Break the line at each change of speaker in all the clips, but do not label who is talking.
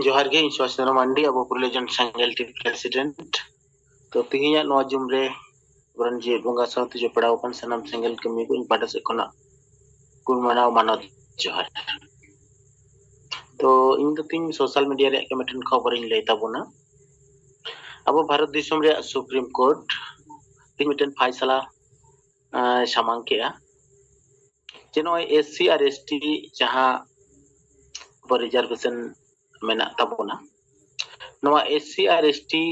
ᱡᱚᱦᱟᱨ ᱜᱮ ᱤᱧ ᱥᱩᱵᱷᱟᱥ ᱪᱚᱱᱫᱨᱚ ᱢᱟᱱᱰᱤ ᱟᱵᱚ ᱯᱨᱚᱞᱤᱡᱚᱱ ᱥᱮᱸᱜᱮᱞ ᱴᱤᱢ ᱯᱨᱮᱥᱤᱰᱮᱱᱴ ᱛᱚ ᱛᱮᱦᱮᱧᱟᱜ ᱱᱚᱣᱟ ᱡᱩᱢ ᱨᱮ ᱟᱵᱚᱨᱮᱱ ᱡᱮ ᱵᱚᱸᱜᱟ ᱥᱟᱶᱛᱮ ᱡᱚᱯᱲᱟᱣ ᱟᱠᱟᱱ ᱥᱟᱱᱟᱢ ᱥᱮᱸᱜᱮᱞ ᱠᱟᱹᱢᱤ ᱠᱚ ᱤᱧ ᱯᱟᱦᱴᱟ ᱥᱮᱫ ᱠᱷᱚᱱᱟᱜ ᱜᱩᱱ ᱢᱟᱱᱟᱣ ᱢᱟᱱᱚᱛ ᱡᱚᱦᱟᱨ ᱛᱚ ᱤᱧ ᱫᱚ ᱛᱤᱧ ᱥᱳᱥᱟᱞ ᱢᱤᱰᱤᱭᱟ ᱨᱮᱭᱟᱜ ᱜᱮ ᱢᱤᱫᱴᱮᱱ ᱠᱷᱚᱵᱚᱨᱤᱧ ᱞᱟᱹᱭ ᱛᱟᱵᱚᱱᱟ ᱟᱵᱚ ᱵᱷᱟᱨᱚᱛ ᱫᱤᱥᱚᱢ ᱨᱮᱭᱟᱜ ᱥᱩᱯᱨᱤᱢ ᱠᱳᱨᱴ ᱛᱤᱧ ᱢᱤᱫᱴᱮᱱ ᱯᱷᱟᱭᱥᱟᱞᱟ ᱥᱟᱢᱟᱝ ᱠᱮᱜᱼᱟ ᱡᱮ ᱱᱚᱜᱼᱚᱭ S C R S T ᱡᱟᱦᱟᱸ ᱟᱵᱚ ᱨᱤᱡᱟᱨᱵᱷᱮᱥᱚᱱ ᱢᱮᱱᱟᱜ ᱛᱟᱵᱚᱱᱟ ᱱᱚᱣᱟ S C R S T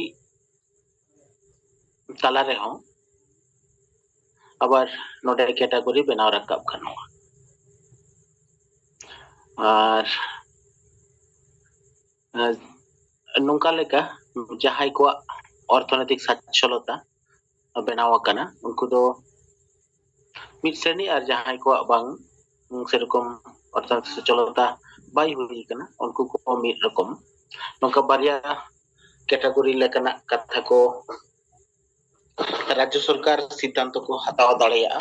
ᱛᱟᱞᱟ ᱨᱮᱦᱚᱸ ᱟᱵᱟᱨ ᱱᱚᱰᱮ ᱠᱮᱴᱟᱜᱚᱨᱤ ᱵᱮᱱᱟᱣ ᱨᱟᱠᱟᱵ ᱜᱟᱱᱚᱜᱼᱟ ᱟᱨ ᱱᱚᱝᱠᱟ ᱞᱮᱠᱟ ᱡᱟᱦᱟᱸᱭ ᱠᱚᱣᱟᱜ ᱚᱨᱛᱷᱚᱱᱳᱭᱛᱤᱠ ᱥᱟᱪᱪᱷᱚᱞᱚᱛᱟ ᱵᱮᱱᱟᱣ ᱟᱠᱟᱱᱟ ᱩᱱᱠᱩ ᱫᱚ ᱢᱤᱫ ᱥᱨᱮᱱᱤ ᱟᱨ ᱡᱟᱦᱟᱸᱭ ᱠᱚᱣᱟᱜ ᱵᱟᱝ ᱥᱮᱨᱚᱠᱚᱢ ᱚᱨᱛᱷᱚᱱᱳᱭᱛᱤᱠ ᱥᱚᱪᱪᱷᱚᱞᱚᱛᱟ ᱵᱟᱭ ᱦᱩᱭ ᱟᱠᱟᱱᱟ ᱩᱱᱠᱩ ᱠᱚ ᱢᱤᱫ ᱨᱚᱠᱚᱢ ᱱᱚᱝᱠᱟ ᱵᱟᱨᱭᱟ ᱠᱮᱴᱟᱜᱚᱨᱤ ᱞᱮᱠᱟᱱᱟᱜ ᱠᱟᱛᱷᱟ ᱠᱚ ᱨᱟᱡᱽᱡᱚ ᱥᱚᱨᱠᱟᱨ ᱥᱤᱫᱽᱫᱷᱟᱱᱛᱚ ᱠᱚ ᱦᱟᱛᱟᱣ ᱫᱟᱲᱮᱭᱟᱜᱼᱟ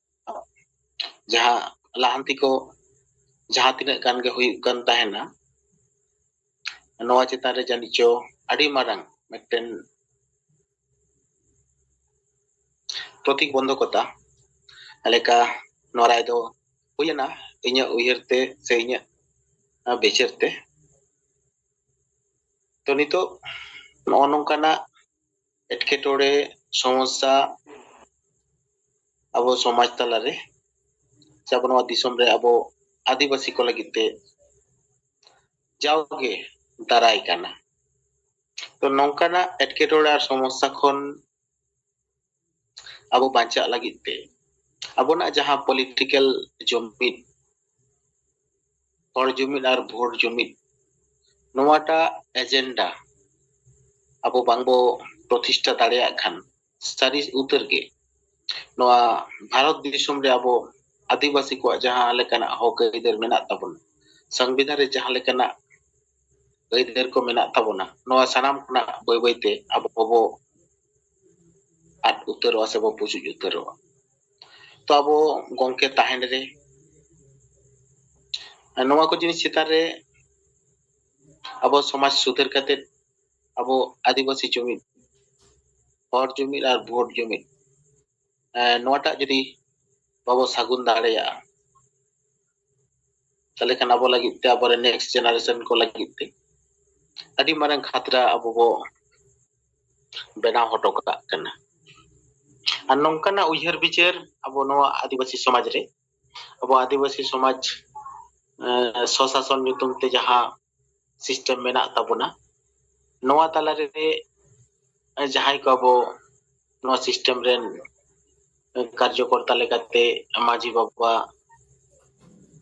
ᱡᱟᱦᱟᱸ ᱞᱟᱦᱟᱱᱛᱤ ᱠᱚ ᱡᱟᱦᱟᱸ ᱛᱤᱱᱟᱹᱜ ᱜᱟᱱ ᱜᱮ ᱦᱩᱭᱩᱜ ᱠᱟᱱ ᱛᱟᱦᱮᱱᱟ ᱱᱚᱣᱟ ᱪᱮᱛᱟᱱ ᱨᱮ ᱡᱟᱹᱱᱤᱡ ᱪᱚ ᱟᱹᱰᱤ ᱢᱟᱨᱟᱝ ᱢᱤᱫᱴᱮᱱ ᱯᱨᱚᱛᱤᱵᱚᱱᱫᱷᱚᱠᱚᱛᱟ ᱞᱮᱠᱟ ᱱᱚᱣᱟ ᱨᱟᱭ ᱫᱚ ᱦᱩᱭᱮᱱᱟ ᱤᱧᱟᱹᱜ ᱩᱭᱦᱟᱹᱨ ᱛᱮ ᱥᱮ ᱤᱧᱟᱹᱜ ᱵᱤᱪᱟᱹᱨ ᱛᱮ ᱛᱚ ᱱᱤᱛᱚᱜ ᱱᱚᱜᱼᱚ ᱱᱚᱝᱠᱟᱱᱟᱜ ᱮᱴᱠᱮᱴᱚᱬᱮ ᱥᱚᱢᱚᱥᱥᱟ ᱟᱵᱚ ᱥᱚᱢᱟᱡᱽ ᱛᱟᱞᱟᱨᱮ ᱥᱮ ᱟᱵᱚ ᱱᱚᱣᱟ ᱫᱤᱥᱚᱢ ᱨᱮ ᱟᱵᱚ ᱟᱹᱫᱤᱵᱟᱹᱥᱤ ᱠᱚ ᱞᱟᱹᱜᱤᱫ ᱛᱮ ᱡᱟᱣᱜᱮ ᱫᱟᱨᱟᱭ ᱠᱟᱱᱟ ᱛᱚ ᱱᱚᱝᱠᱟᱱᱟᱜ ᱮᱴᱠᱮᱴᱚᱬᱮ ᱟᱨ ᱥᱚᱢᱚᱥᱥᱟ ᱠᱷᱚᱱ ᱟᱵᱚ ᱵᱟᱧᱪᱟᱜ ᱞᱟᱹᱜᱤᱫ ᱛᱮ ᱟᱵᱚᱱᱟᱜ ᱡᱟᱦᱟᱸ ᱯᱚᱞᱤᱴᱤᱠᱮᱞ ᱡᱩᱢᱤᱫ ᱦᱚᱲ ᱡᱩᱢᱤᱫ ᱟᱨ ᱵᱷᱳᱴ ᱡᱩᱢᱤᱫ ᱱᱚᱣᱟᱴᱟᱜ ᱮᱡᱮᱱᱰᱟ ᱟᱵᱚ ᱵᱟᱝᱵᱚ ᱯᱨᱚᱛᱤᱥᱴᱷᱟ ᱫᱟᱲᱮᱭᱟᱜ ᱠᱷᱟᱱ ᱥᱟᱹᱨᱤ ᱩᱛᱟᱹᱨ ᱜᱮ ᱱᱚᱣᱟ ᱵᱷᱟᱨᱚᱛ ᱫᱤᱥᱚᱢ ᱨᱮ ᱟᱵᱚ ᱟᱹᱫᱤᱵᱟᱹᱥᱤ ᱠᱚᱣᱟᱜ ᱡᱟᱦᱟᱸ ᱞᱮᱠᱟᱱᱟᱜ ᱦᱚᱠ ᱟᱹᱭᱫᱟᱹᱨ ᱢᱮᱱᱟᱜ ᱛᱟᱵᱚᱱᱟ ᱥᱚᱝᱵᱤᱫᱷᱟᱱ ᱨᱮ ᱡᱟᱦᱟᱸ ᱞᱮᱠᱟᱱᱟᱜ ᱟᱹᱭᱫᱟᱹᱨ ᱠᱚ ᱢᱮᱱᱟᱜ ᱛᱟᱵᱚᱱᱟ ᱱᱚᱣᱟ ᱥᱟᱱᱟᱢ ᱠᱷᱚᱱᱟᱜ ᱵᱟᱹᱭ ᱵᱟᱹᱭᱛᱮ ᱟᱵᱚ ᱵᱚ ᱟᱫ ᱩᱛᱟᱹᱨᱚᱜᱼᱟ ᱥᱮᱵᱚ ᱯᱩᱪᱩᱡ ᱩᱛᱟᱹᱨᱚᱜᱼᱟ ᱛᱚ ᱟᱵᱚ ᱜᱚᱝᱠᱮ ᱛᱟᱦᱮᱱ ᱨᱮ ᱱᱚᱣᱟ ᱠᱚ ᱡᱤᱱᱤᱥ ᱪᱮᱛᱟᱱ ᱨᱮ ᱟᱵᱚ ᱥᱚᱢᱟᱡᱽ ᱥᱩᱫᱷᱟᱹᱨ ᱠᱟᱛᱮ ᱟᱵᱚ ᱟᱹᱫᱤᱵᱟᱹᱥᱤ ᱡᱩᱢᱤᱫ ᱦᱚᱲ ᱡᱩᱢᱤᱫ ᱟᱨ ᱵᱷᱳᱴ ᱡᱩᱢᱤᱫ ᱱᱚᱣᱟᱴᱟᱜ ᱡᱩᱫᱤ ᱵᱟᱵᱚ ᱥᱟᱹᱜᱩᱱ ᱫᱟᱲᱮᱭᱟᱜᱼᱟ ᱛᱟᱦᱞᱮ ᱠᱷᱟᱱ ᱟᱵᱚ ᱞᱟᱹᱜᱤᱫ ᱛᱮ ᱟᱵᱚᱨᱮ ᱱᱮᱠᱥᱴ ᱡᱮᱱᱟᱨᱮᱥᱚᱱ ᱠᱚ ᱞᱟᱹᱜᱤᱫ ᱛᱮ ᱟᱹᱰᱤ ᱢᱟᱨᱟᱝ ᱠᱷᱟᱛᱨᱟ ᱟᱵᱚ ᱵᱚ ᱵᱮᱱᱟᱣ ᱦᱚᱴᱚ ᱠᱟᱜ ᱠᱟᱱᱟ ᱟᱨ ᱱᱚᱝᱠᱟᱱᱟᱜ ᱩᱭᱦᱟᱹᱨ ᱵᱤᱪᱟᱹᱨ ᱟᱵᱚ ᱱᱚᱣᱟ ᱟᱹᱫᱤᱵᱟᱹᱥᱤ ᱥᱚᱢᱟᱡᱽ ᱨᱮ ᱟᱵᱚ ᱟᱹᱫᱤᱵᱟᱹᱥᱤ ᱥᱚᱢᱟᱡᱽ ᱥᱚᱥᱟᱥᱚᱱ ᱧᱩᱛᱩᱢ ᱛᱮ ᱡᱟᱦᱟᱸ ᱥᱤᱥᱴᱮᱢ ᱢᱮᱱᱟᱜ ᱛᱟᱵᱚᱱᱟ ᱱᱚᱣᱟ ᱛᱟᱞᱟ ᱨᱮ ᱡᱟᱦᱟᱸᱭ ᱠᱚ ᱟᱵᱚ ᱱᱚᱣᱟ ᱥᱤᱥᱴᱮᱢ ᱨᱮᱱ ᱠᱟᱨᱡᱚᱠᱚᱨᱛᱟ ᱞᱮᱠᱟᱛᱮ ᱢᱟᱹᱡᱷᱤ ᱵᱟᱵᱟ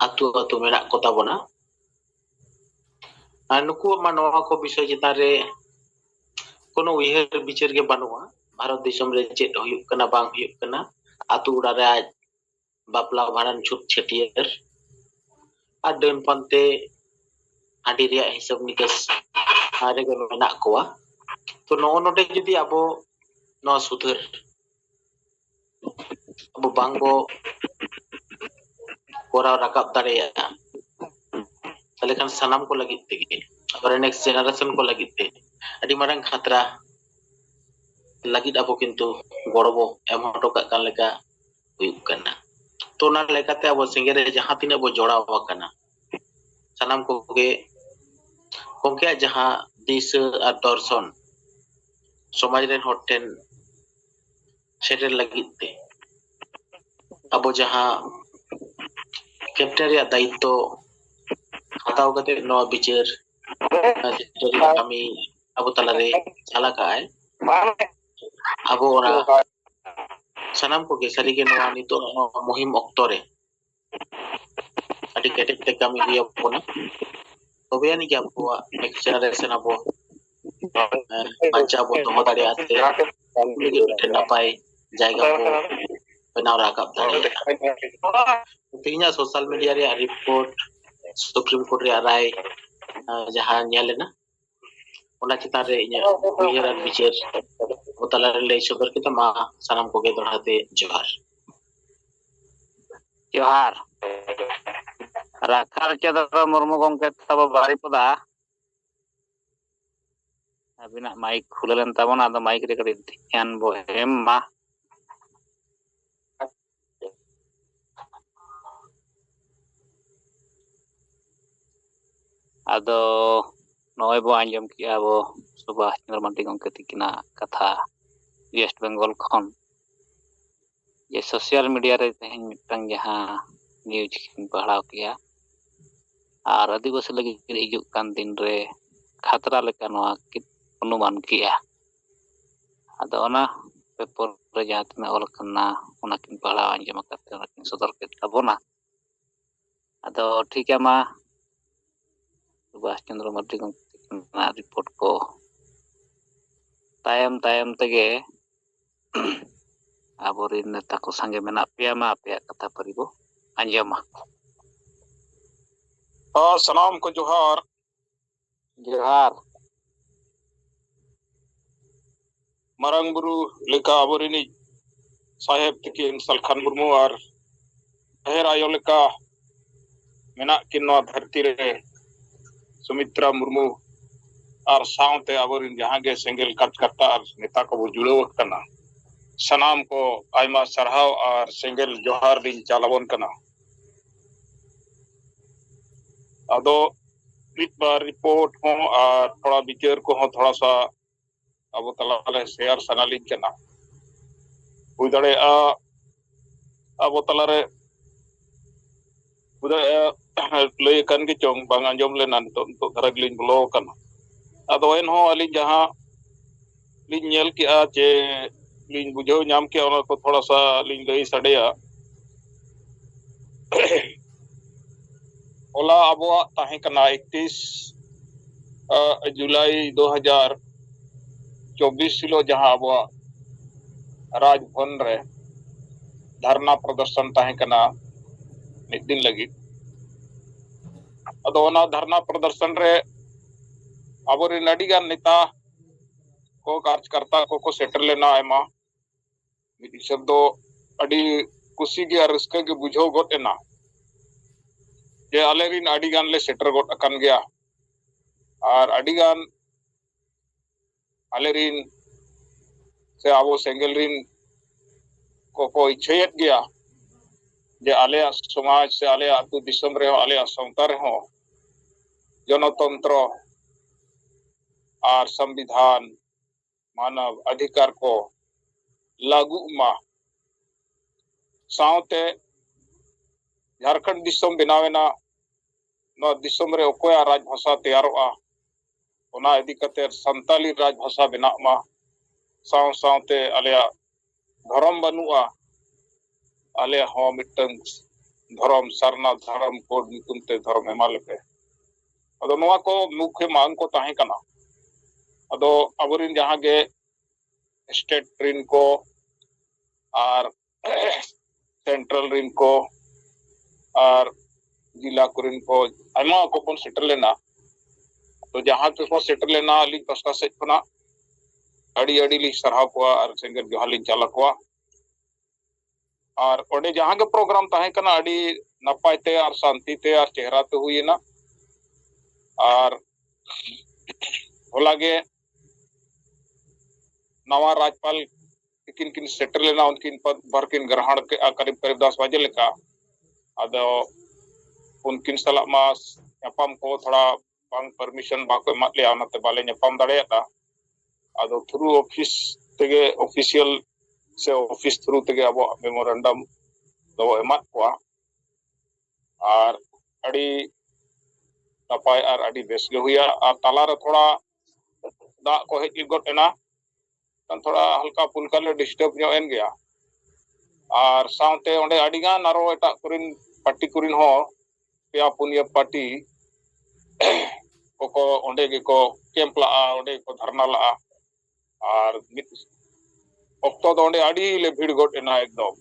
ᱟᱛᱳ ᱟᱛᱳ ᱢᱮᱱᱟᱜ ᱠᱚ ᱛᱟᱵᱚᱱᱟ ᱟᱨ ᱱᱩᱠᱩᱣᱟᱜ ᱢᱟ ᱱᱚᱣᱟ ᱠᱚ ᱵᱤᱥᱚᱭ ᱪᱮᱛᱟᱱ ᱨᱮ ᱠᱳᱱᱳ ᱩᱭᱦᱟᱹᱨ ᱵᱤᱪᱟᱹᱨ ᱜᱮ ᱵᱟᱹᱱᱩᱜᱼᱟ ᱵᱷᱟᱨᱚᱛ ᱫᱤᱥᱚᱢ ᱨᱮ ᱪᱮᱫ ᱦᱩᱭᱩᱜ ᱠᱟᱱᱟ ᱵᱟᱝ ᱦᱩᱭᱩᱜ ᱠᱟᱱᱟ ᱟᱛᱳ ᱚᱲᱟᱜ ᱨᱮ ᱟᱡ ᱵᱟᱯᱞᱟ ᱵᱷᱟᱸᱰᱟᱱ ᱪᱷᱩᱛ ᱪᱷᱟᱹᱴᱭᱟᱹᱨ ᱟᱨ ᱰᱟᱹᱱ ᱯᱟᱱᱛᱮ ᱦᱟᱺᱰᱤ ᱨᱮᱭᱟᱜ ᱦᱤᱥᱟᱹᱵ ᱱᱤᱠᱟᱹᱥ ᱨᱮᱜᱮ ᱢᱮᱱᱟᱜ ᱠᱚᱣᱟ ᱛᱚ ᱱᱚᱜᱼᱚ ᱱᱚᱰᱮ ᱡᱩᱫᱤ ᱟᱵᱚ ᱱᱚᱣᱟ ᱥᱩᱫᱷᱟᱹᱨ ᱟᱵᱚ ᱵᱟᱝ ᱵᱚ ᱠᱚᱨᱟᱣ ᱨᱟᱠᱟᱵ ᱫᱟᱲᱮᱭᱟᱜᱼᱟ ᱛᱟᱦᱞᱮ ᱠᱷᱟᱱ ᱥᱟᱱᱟᱢ ᱠᱚ ᱞᱟᱹᱜᱤᱫ ᱛᱮᱜᱮ ᱟᱵᱚᱨᱮᱱ ᱱᱮᱠᱥᱴ ᱡᱮᱱᱟᱨᱮᱥᱚᱱ ᱠᱚ ᱞᱟᱹᱜᱤᱫ ᱛᱮ ᱟᱹᱰᱤ ᱢᱟᱨᱟᱝ ᱠᱷᱟᱛᱨᱟ ᱞᱟᱹᱜᱤᱫ ᱟᱵᱚ ᱠᱤᱱᱛᱩ ᱜᱚᱲᱚ ᱵᱚ ᱮᱢ ᱦᱚᱴᱚ ᱠᱟᱜ ᱠᱟᱱ ᱞᱮᱠᱟ ᱦᱩᱭᱩᱜ ᱠᱟᱱᱟ ᱛᱚ ᱚᱱᱟ ᱞᱮᱠᱟᱛᱮ ᱟᱵᱚ ᱥᱮᱸᱜᱮᱞ ᱨᱮ ᱡᱟᱦᱟᱸ ᱛᱤᱱᱟᱹᱜ ᱵᱚ ᱡᱚᱲᱟᱣ ᱟᱠᱟᱱᱟ ᱥᱟᱱᱟᱢ ᱠᱚᱜᱮ ᱜᱚᱢᱠᱮᱭᱟᱜ ᱡᱟᱦᱟᱸ ᱫᱤᱥᱟᱹ ᱟᱨ ᱫᱚᱨᱥᱚᱱ ᱥᱚᱢᱟᱡᱽ ᱨᱮᱱ ᱦᱚᱲ ᱴᱷᱮᱱ ᱥᱮᱴᱮᱨ ᱞᱟᱹᱜᱤᱫ ᱛᱮ ᱟᱵᱚ ᱡᱟᱦᱟᱸ ᱠᱮᱯᱴᱮᱱ ᱨᱮᱭᱟᱜ ᱫᱟᱭᱤᱛᱛᱚ ᱦᱟᱛᱟᱣ ᱠᱟᱛᱮ ᱱᱚᱣᱟ ᱵᱤᱪᱟᱹᱨ ᱠᱟᱹᱢᱤ ᱟᱵᱚ ᱛᱟᱞᱟᱨᱮ ᱪᱟᱞᱟᱜ ᱟᱭ ᱟᱵᱚ ᱚᱱᱟ ᱥᱟᱱᱟᱢ ᱠᱚᱜᱮ ᱥᱟᱹᱨᱤᱜᱮ ᱱᱚᱣᱟ ᱱᱤᱛᱚᱜ ᱢᱩᱦᱤᱢ ᱚᱠᱛᱚ ᱨᱮ ᱟᱹᱰᱤ ᱠᱮᱴᱮᱡ ᱛᱮ ᱠᱟᱹᱢᱤ ᱦᱩᱭ ᱟᱵᱚᱱᱟ ᱛᱚᱵᱮ ᱟᱹᱱᱤᱡ ᱜᱮ ᱟᱵᱚᱣᱟᱜ ᱱᱮᱠᱥᱴ ᱡᱮᱱᱟᱨᱮᱥᱚᱱ ᱟᱵᱚ ᱵᱟᱧᱪᱟᱣ ᱵᱚᱱ ᱫᱚᱦᱚ ᱫᱟᱲᱮᱭᱟᱜᱼᱟ ᱥᱮ ᱩᱱᱠᱩ ᱞᱟᱹᱜᱤᱫ ᱢᱤᱫᱴᱮᱱ ᱱᱟᱯᱟᱭ ᱡᱟᱭᱜᱟ ᱵᱚ ᱵᱮᱱᱟᱣ ᱨᱟᱠᱟᱵ ᱫᱟᱲᱮᱭᱟᱜᱼᱟ ᱛᱮᱦᱮᱧᱟᱜ ᱥᱳᱥᱟᱞ ᱢᱤᱰᱤᱭᱟ ᱨᱮᱭᱟᱜ ᱨᱤᱯᱳᱨᱴ ᱥᱩᱯᱨᱤᱢ ᱠᱳᱨᱴ ᱨᱮᱭᱟᱜ ᱨᱟᱭ ᱡᱟᱦᱟᱸ ᱧᱮᱞ ᱮᱱᱟ ᱚᱱᱟ ᱪᱮᱛᱟᱱ ᱨᱮ ᱤᱧᱟᱹᱜ ᱩᱭᱦᱟᱹᱨ ᱟᱨ ᱵᱤᱪᱟᱹᱨ ᱠᱚ ᱛᱟᱞᱟᱨᱮ ᱞᱟᱹᱭ ᱥᱚᱫᱚᱨ ᱠᱮᱫᱟ ᱢᱟ ᱥᱟᱱᱟᱢ ᱠᱚᱜᱮ ᱫᱚᱲᱦᱟ ᱛᱮ ᱡᱚᱦᱟᱨ
ᱡᱚᱦᱟᱨ ᱨᱟᱠᱷᱟᱞ ᱪᱚᱸᱫᱽᱨᱚ ᱢᱩᱨᱢᱩ ᱜᱚᱢᱠᱮ ᱛᱟᱵᱚ ᱵᱟᱨᱤᱯᱚᱫᱟ ᱟᱹᱵᱤᱱᱟᱜ ᱢᱟᱭᱤᱠ ᱠᱷᱩᱞᱟᱹ ᱞᱮᱱ ᱛᱟᱵᱚᱱᱟ ᱟᱫᱚ ᱢᱟᱭᱤᱠ ᱨᱮ ᱠᱟᱹᱴᱤᱡ ᱫᱷᱮᱭᱟᱱ ᱵᱚ ᱮᱢ ᱢᱟ ᱟᱫᱚ ᱱᱚᱜᱼᱚᱭ ᱵᱚ ᱟᱸᱡᱚᱢ ᱠᱮᱜᱼᱟ ᱟᱵᱚ ᱥᱩᱵᱷᱟᱥ ᱪᱚᱱᱫᱨᱚ ᱢᱟᱱᱰᱤ ᱜᱚᱢᱠᱮ ᱛᱤᱠᱤᱱᱟᱜ ᱠᱟᱛᱷᱟ ᱣᱮᱥᱴ ᱵᱮᱝᱜᱚᱞ ᱠᱷᱚᱱ ᱡᱮ ᱥᱳᱥᱤᱭᱟᱞ ᱢᱤᱰᱤᱭᱟ ᱨᱮ ᱛᱮᱦᱮᱧ ᱢᱤᱫᱴᱟᱝ ᱡᱟᱦᱟᱸ ᱱᱤᱭᱩᱡᱽ ᱠᱤᱱ ᱯᱟᱲᱦᱟᱣ ᱠᱮᱜᱼᱟ ᱟᱨ ᱟᱹᱫᱤᱵᱟᱹᱥᱤ ᱞᱟᱹᱜᱤᱫ ᱦᱤᱡᱩᱜ ᱠᱟᱱ ᱫᱤᱱ ᱨᱮ ᱠᱷᱟᱛᱨᱟ ᱞᱮᱠᱟ ᱱᱚᱣᱟ ᱠᱤᱱ ᱚᱱᱩᱢᱟᱱ ᱠᱮᱜᱼᱟ ᱟᱫᱚ ᱚᱱᱟ ᱯᱮᱯᱚᱨ ᱨᱮ ᱡᱟᱦᱟᱸ ᱛᱤᱱᱟᱹᱜ ᱚᱞ ᱠᱟᱱᱟ ᱚᱱᱟ ᱠᱤᱱ ᱯᱟᱲᱦᱟᱣ ᱟᱸᱡᱚᱢ ᱟᱠᱟᱫ ᱛᱮ ᱚᱱᱟ ᱠᱤᱱ ᱥᱚᱫᱚᱨ ᱠᱮᱫ ᱛᱟᱵᱚᱱᱟ ᱟᱫᱚ ᱴᱷᱤᱠ ᱜᱮᱭᱟ ᱢᱟ ᱥᱩᱵᱷᱟᱥ ᱪᱚᱱᱫᱨᱚ ᱢᱟᱨᱰᱤ ᱜᱚᱢᱠᱮ ᱛᱤᱠᱤᱱᱟᱜ ᱨᱤᱯᱳᱨᱴ ᱠᱚ ᱛᱟᱭᱚᱢ ᱛᱟᱭᱚᱢ ᱛᱮᱜᱮ ᱟᱵᱚᱨᱮᱱ ᱱᱮᱛᱟ ᱠᱚ ᱥᱟᱸᱜᱮ ᱢᱮᱱᱟᱜ ᱯᱮᱭᱟ ᱢᱟ ᱟᱯᱮᱭᱟᱜ ᱠᱟᱛᱷᱟ ᱯᱟᱹᱨᱤ ᱵᱚ ᱟᱸᱡᱚᱢᱟ
ᱦᱚᱸ ᱥᱟᱱᱟᱢ ᱠᱚ ᱡᱚᱦᱟᱨ
ᱡᱚᱦᱟᱨ
ᱢᱟᱨᱟᱝ ᱵᱩᱨᱩ ᱞᱮᱠᱟ ᱟᱵᱚᱨᱤᱱᱤᱡ ᱥᱟᱦᱮᱵ ᱛᱤᱠᱤᱱ ᱥᱟᱞᱠᱷᱟᱱ ᱢᱩᱨᱢᱩ ᱟᱨ ᱰᱷᱮᱨ ᱟᱭᱳ ᱞᱮᱠᱟ ᱢᱮᱱᱟᱜ ᱠᱤᱱ ᱱᱚᱣᱟ ᱫᱷᱟᱹᱨᱛᱤ ᱨᱮ ᱥᱩᱢᱤᱛᱨᱟ ᱢᱩᱨᱢᱩ ᱟᱨ ᱥᱟᱶᱛᱮ ᱟᱵᱚᱨᱤᱱ ᱡᱟᱦᱟᱸ ᱜᱮ ᱥᱮᱸᱜᱮᱞ ᱠᱟᱴᱠᱟᱴᱟ ᱟᱨ ᱱᱮᱛᱟ ᱠᱚᱵᱚ ᱡᱩᱲᱟᱹᱣ ᱟᱠᱟᱱᱟ ᱥᱟᱱᱟᱢ ᱠᱚ ᱟᱭᱢᱟ ᱥᱟᱨᱦᱟᱣ ᱟᱨ ᱥᱮᱸᱜᱮᱞ ᱡᱚᱦᱟᱨ ᱞᱤᱧ ᱪᱟᱞ ᱟᱵᱚᱱ ᱠᱟᱱᱟ ᱟᱫᱚ ᱢᱤᱫ ᱵᱟᱨ ᱨᱤᱯᱳᱨᱴ ᱦᱚᱸ ᱟᱨ ᱛᱷᱚᱲᱟ ᱵᱤᱪᱟᱹᱨ ᱠᱚᱦᱚᱸ ᱛᱷᱚᱲᱟ ᱥᱟ ᱟᱵᱚ ᱛᱟᱞᱟᱨᱮ ᱥᱮᱭᱟᱨ ᱥᱟᱱᱟᱞᱤᱧ ᱠᱟᱱᱟ ᱦᱩᱭ ᱫᱟᱲᱮᱭᱟᱜᱼᱟ ᱟᱵᱚ ᱛᱟᱞᱟᱨᱮ ᱦᱩᱭ ᱫᱟᱲᱮᱭᱟᱜᱼᱟ ᱞᱟᱹᱭ ᱟᱠᱟᱱ ᱜᱮ ᱪᱚᱝ ᱵᱟᱝ ᱟᱸᱡᱚᱢ ᱞᱮᱱᱟ ᱱᱤᱛᱚᱜ ᱱᱤᱛᱚᱜ ᱫᱷᱟᱨᱟ ᱜᱮᱞᱤᱧ ᱵᱚᱞᱚ ᱟᱠᱟᱱᱟ ᱟᱫᱚ ᱮᱱᱦᱚᱸ ᱟᱹᱞᱤᱧ ᱡᱟᱦᱟᱸ ᱞᱤᱧ ᱧᱮᱞ ᱠᱮᱜᱼᱟ ᱪᱮ ᱞᱤᱧ ᱵᱩᱡᱷᱟᱹᱣ ᱧᱟᱢ ᱠᱮᱜᱼᱟ ᱚᱱᱟ ᱠᱚ ᱛᱷᱚᱲᱟ ᱥᱟ ᱞᱤᱧ ᱞᱟᱹᱭ ᱥᱟᱰᱮᱭᱟ ᱦᱚᱞᱟ ᱟᱵᱚᱣᱟᱜ ᱛᱟᱦᱮᱸ ᱠᱟᱱᱟ ᱮᱠᱛᱤᱥ ᱡᱩᱞᱟᱭ ᱫᱩ ᱦᱟᱡᱟᱨ ᱪᱚᱵᱵᱤᱥ ᱦᱤᱞᱳᱜ ᱡᱟᱦᱟᱸ ᱟᱵᱚᱣᱟᱜ ᱨᱟᱡᱽᱵᱷᱚᱱ ᱨᱮ ᱫᱷᱟᱨᱱᱟ ᱯᱨᱚᱫᱚᱨᱥᱚᱱ ᱛᱟᱦᱮᱸ ᱠᱟᱱᱟ ᱢᱤᱫ ᱫᱤᱱ ᱞᱟᱹᱜᱤᱫ ᱟᱫᱚ ᱚᱱᱟ ᱫᱷᱟᱨᱱᱟ ᱯᱨᱚᱫᱚᱨᱥᱚᱱ ᱨᱮ ᱟᱵᱚᱨᱮᱱ ᱟᱹᱰᱤᱜᱟᱱ ᱱᱮᱛᱟ ᱠᱚ ᱠᱟᱨᱡᱽᱠᱟᱨᱛᱟ ᱠᱚᱠᱚ ᱥᱮᱴᱮᱨ ᱞᱮᱱᱟ ᱟᱭᱢᱟ ᱢᱤᱫ ᱦᱤᱥᱟᱹᱵ ᱫᱚ ᱟᱹᱰᱤ ᱠᱩᱥᱤ ᱜᱮ ᱟᱨ ᱨᱟᱹᱥᱠᱟᱹ ᱜᱮ ᱵᱩᱡᱷᱟᱹᱣ ᱜᱚᱫ ᱮᱱᱟ ᱡᱮ ᱟᱞᱮ ᱨᱤᱱ ᱟᱹᱰᱤ ᱜᱟᱱ ᱞᱮ ᱥᱮᱴᱮᱨ ᱜᱚᱫ ᱟᱠᱟᱱ ᱜᱮᱭᱟ ᱟᱨ ᱟᱹᱰᱤ ᱜᱟᱱ ᱟᱞᱮ ᱨᱤᱱ ᱥᱮ ᱟᱵᱚ ᱥᱮᱸᱜᱮᱞ ᱨᱤᱱ ᱠᱚᱠᱚ ᱤᱪᱪᱷᱟᱹᱭᱮᱫ ᱜᱮᱭᱟ ᱡᱮ ᱟᱞᱮᱭᱟᱜ ᱥᱚᱢᱟᱡᱽ ᱥᱮ ᱟᱞᱮᱭᱟᱜ ᱟᱹᱛᱩ ᱫᱤᱥᱚᱢ ᱨᱮᱦᱚᱸ ᱟᱞᱮᱭᱟᱜ ᱥᱟᱶᱛᱟ ᱨᱮᱦᱚᱸ ᱡᱚᱱᱚᱛᱚᱱᱛᱨᱚ ᱟᱨ ᱥᱚᱢᱵᱤᱫᱷᱟᱱ ᱢᱟᱱᱚᱵᱽ ᱟᱫᱷᱤᱠᱟᱨ ᱠᱚ ᱞᱟᱜᱩᱜ ᱢᱟ ᱥᱟᱶᱛᱮ ᱡᱷᱟᱨᱠᱷᱚᱸᱰ ᱫᱤᱥᱚᱢ ᱵᱮᱱᱟᱣ ᱮᱱᱟ ᱱᱚᱣᱟ ᱫᱤᱥᱚᱢ ᱨᱮ ᱚᱠᱚᱭᱟᱜ ᱨᱟᱡᱽ ᱵᱷᱟᱥᱟ ᱛᱮᱭᱟᱨᱚᱜᱼᱟ ᱚᱱᱟ ᱤᱫᱤ ᱠᱟᱛᱮ ᱥᱟᱱᱛᱟᱞᱤ ᱨᱟᱡᱽ ᱵᱷᱟᱥᱟ ᱵᱮᱱᱟᱜ ᱢᱟ ᱥᱟᱶ ᱥᱟᱶᱛᱮ ᱟᱞᱮᱭᱟᱜ ᱫᱷᱚᱨᱚᱢ ᱵᱟᱹᱱᱩᱜᱼᱟ ᱟᱞᱮ ᱦᱚᱸ ᱢᱤᱫᱴᱟᱝ ᱫᱷᱚᱨᱚᱢ ᱥᱟᱨᱱᱟ ᱫᱷᱚᱨᱚᱢ ᱠᱳᱰ ᱧᱩᱛᱩᱢ ᱛᱮ ᱫᱷᱚᱨᱚᱢ ᱮᱢᱟ ᱞᱮᱯᱮ ᱟᱫᱚ ᱱᱚᱣᱟ ᱠᱚ ᱢᱩᱠᱷᱮ ᱢᱟᱝ ᱠᱚ ᱛᱟᱦᱮᱸ ᱠᱟᱱᱟ ᱟᱫᱚ ᱟᱵᱚᱨᱮᱱ ᱡᱟᱦᱟᱸ ᱜᱮ ᱥᱴᱮᱴ ᱨᱮᱱ ᱠᱚ ᱟᱨ ᱥᱮᱱᱴᱨᱟᱞ ᱨᱤᱱ ᱠᱚ ᱟᱨ ᱡᱮᱞᱟ ᱠᱚᱨᱮᱱ ᱠᱚ ᱟᱭᱢᱟ ᱠᱚ ᱵᱚᱱ ᱥᱮᱴᱮᱨ ᱞᱮᱱᱟ ᱛᱚ ᱡᱟᱦᱟᱸ ᱛᱮᱠᱚ ᱥᱮᱴᱮᱨ ᱞᱮᱱᱟ ᱟᱹᱞᱤᱧ ᱯᱟᱥᱴᱟ ᱥᱮᱫ ᱠᱷᱚᱱᱟᱜ ᱟᱹᱰᱤ ᱟᱹᱰᱤ ᱞᱤᱧ ᱥᱟᱨᱦᱟᱣ ᱠᱚᱣᱟ ᱟᱨ ᱥᱮᱸᱜᱮᱞ ᱡᱚᱦᱟᱨ ᱞᱤᱧ ᱪᱟᱞ ᱟᱠᱚᱣᱟ ᱟᱨ ᱚᱸᱰᱮ ᱡᱟᱦᱟᱸ ᱜᱮ ᱯᱨᱳᱜᱨᱟᱢ ᱛᱟᱦᱮᱸ ᱠᱟᱱᱟ ᱟᱹᱰᱤ ᱱᱟᱯᱟᱭ ᱛᱮ ᱟᱨ ᱥᱟᱱᱛᱤ ᱛᱮ ᱟᱨ ᱪᱮᱦᱨᱟ ᱛᱮ ᱦᱩᱭᱮᱱᱟ ᱟᱨ ᱦᱚᱞᱟ ᱜᱮ ᱱᱟᱣᱟ ᱨᱟᱡᱽᱯᱟᱞ ᱛᱤᱠᱤᱱ ᱠᱤᱱ ᱥᱮᱴᱮᱨ ᱞᱮᱱᱟ ᱩᱱᱠᱤᱱ ᱵᱟᱨ ᱠᱤᱱ ᱜᱨᱟᱦᱚᱬ ᱠᱮᱫᱼᱟ ᱠᱟᱨᱤᱵ ᱠᱟᱨᱤᱵ ᱫᱚᱥ ᱵᱟᱡᱮ ᱞᱮᱠᱟ ᱟᱫᱚ ᱩᱱᱠᱤᱱ ᱥᱟᱞᱟᱜ ᱢᱟ ᱧᱟᱯᱟᱢ ᱠᱚ ᱛᱷᱚᱲᱟ ᱵᱟᱝ ᱯᱟᱨᱢᱤᱥᱚᱱ ᱵᱟᱠᱚ ᱮᱢᱟᱫ ᱞᱮᱭᱟ ᱚᱱᱟᱛᱮ ᱵᱟᱞᱮ ᱧᱟᱯᱟᱢ ᱫᱟᱲᱮᱭᱟᱫᱟ ᱟᱫᱚ ᱛᱷᱨᱩ ᱚᱯᱷᱤᱥ ᱛᱮᱜᱮ ᱚᱯᱷᱤᱥᱤᱭᱟᱞ ᱥᱮ ᱚᱯᱷᱤᱥ ᱛᱷᱨᱩ ᱛᱮᱜᱮ ᱟᱵᱚᱣᱟᱜ ᱢᱮᱢᱳᱨᱮᱱᱰᱟᱢ ᱫᱚ ᱮᱢᱟᱫ ᱠᱚᱣᱟ ᱟᱨ ᱟᱹᱰᱤ ᱱᱟᱯᱟᱭ ᱟᱨ ᱟᱹᱰᱤ ᱵᱮᱥ ᱜᱮ ᱦᱩᱭᱟ ᱟᱨ ᱛᱟᱞᱟᱨᱮ ᱛᱷᱚᱲᱟ ᱫᱟᱜ ᱠᱚ ᱦᱮᱡ ᱜᱚᱫ ᱮᱱᱟ ᱛᱷᱚᱲᱟ ᱦᱟᱞᱠᱟ ᱯᱩᱞᱠᱟ ᱞᱮ ᱰᱤᱥᱴᱟᱵᱽ ᱧᱚᱜ ᱮᱱ ᱜᱮᱭᱟ ᱟᱨ ᱥᱟᱶᱛᱮ ᱚᱸᱰᱮ ᱟᱹᱰᱤᱜᱟᱱ ᱟᱨᱚ ᱮᱴᱟᱜ ᱠᱚᱨᱮᱱ ᱯᱟᱨᱴᱤ ᱠᱚᱨᱮᱱ ᱦᱚᱸ ᱯᱮᱭᱟ ᱯᱩᱱᱭᱟᱹ ᱯᱟᱨᱴᱤ ᱠᱚᱠᱚ ᱚᱸᱰᱮ ᱜᱮᱠᱚ ᱠᱮᱢᱯ ᱞᱟᱜᱼᱟ ᱚᱸᱰᱮ ᱜᱮᱠᱚ ᱫᱷᱟᱨᱱᱟ ᱞᱟᱜᱼᱟ ᱟᱨ ᱢᱤᱫ ᱚᱠᱛᱚ ᱫᱚ ᱚᱸᱰᱮ ᱟᱹᱰᱤ ᱞᱮ ᱵᱷᱤᱲ ᱜᱚᱫ ᱮᱱᱟ ᱮᱠᱫᱚᱢ